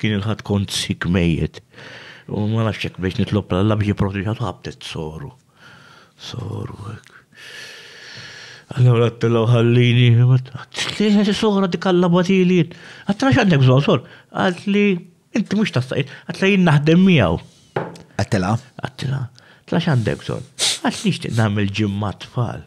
Kien il-Ħadd kont sick mejjet u ma nafx hekk bdejt nitlob l-Alla biex jipproteġiha tħabbtet soru. Soru hekk. Allura għattilha ħallini, għattilha soru dik Alla batili. Għattilha x'għandek bżonn sor? Għatli inti mhux tastaqi, għattilha jien naħdem miegħu. Għattilha? Għattilha. Tla x'għandek bżonn? Għatli nixtieq nagħmel ġimma tfal.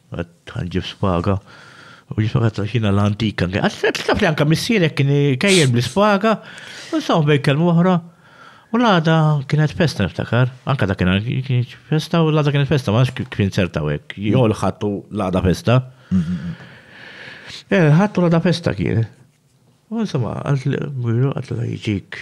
Għad ħanġib spaga. U jisma għazza xina l-antika. Għazza taf li anka missierek kien kajjen bl-spaga. U saħu bej kelmu uħra. U l-għada kienet festa niftakar. Anka da kienet festa u l-għada kienet festa. Max kien serta għek. Jo l-ħattu l-għada festa. Eh, ħattu l-għada festa kien. U insomma, għazza għazza jġik.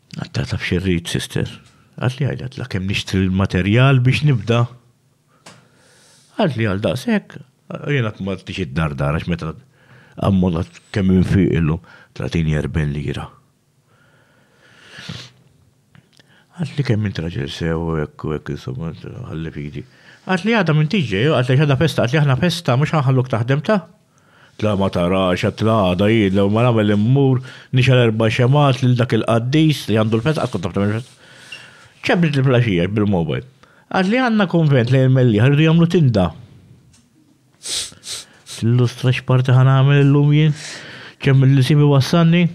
Għatta taf xirrit, sister. Għat li għajda tla kem nixtri l-materjal biex nibda. Għat li għal daqsek, jena t t tixid dar dar, għax meta għammona kem fi illu 30-40 lira. Għat li kem intraġel sew, ekku, ekku, insomma, għalli fidi. Għat li għada minn tiġġej, għat li għada festa, għat li għana festa, mux għanħalluk taħdem ta' La ma tarax għad la għada jien lew ma nagħmel immur nixgħel erba' xemgħat lil dak il-qaddis li għandu l-festa qatt kont naf tagħmel il-festa. Ċebbrit il-flaxija bil-mobile. Għad li għandna konvent lejn il-Mellieħa rridu jagħmlu tinda. Tillustra x'parti ħa nagħmel illum jien? Kemm li sibi wassanni?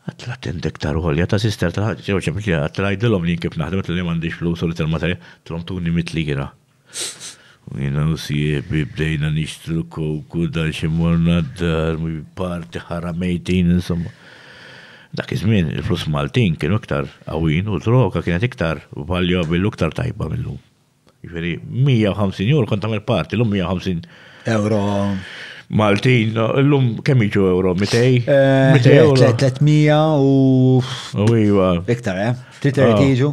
Għad la tinda iktar għolja ta' sister ta' ġew ċebbrit li għad tgħidilhom li jien kif naħdem li m'għandix flus u li tal-materja trom tuni mitli jiena. U jiena u sieħbi bdejna nixtru kok u dan xi morna d-dar, parti ħara mejtin insomma. Dak iż-żmien il-flus Maltin kienu iktar qawwin u droga kienet iktar valuable u iktar tajba mill-lum. Jiġifieri 150 euro kont tagħmel parti, l-lum 150 euro. Maltin, l-lum kemm jiġu euro? 200? 300 eh, u. U iva. Iktar, eh? 300 jiġu?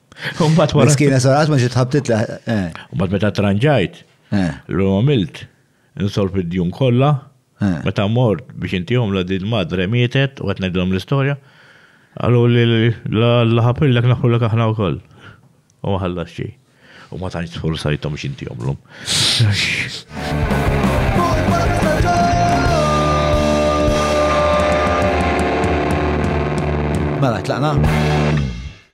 Umbat wara. Miskina sarat ma xi tħabtit la. Eh. Umbat meta tranġajt, eh. l-lum għamilt, insolf id-djun kollha, eh. meta mort biex inti la din madre mietet u qed ngħidilhom l-istorja, għallu li l-ħapillek naħħulek aħna wkoll. U ma ħallax xejn. U ma tantx sforzajthom x'inti jomlhom. Mela, tlaqna?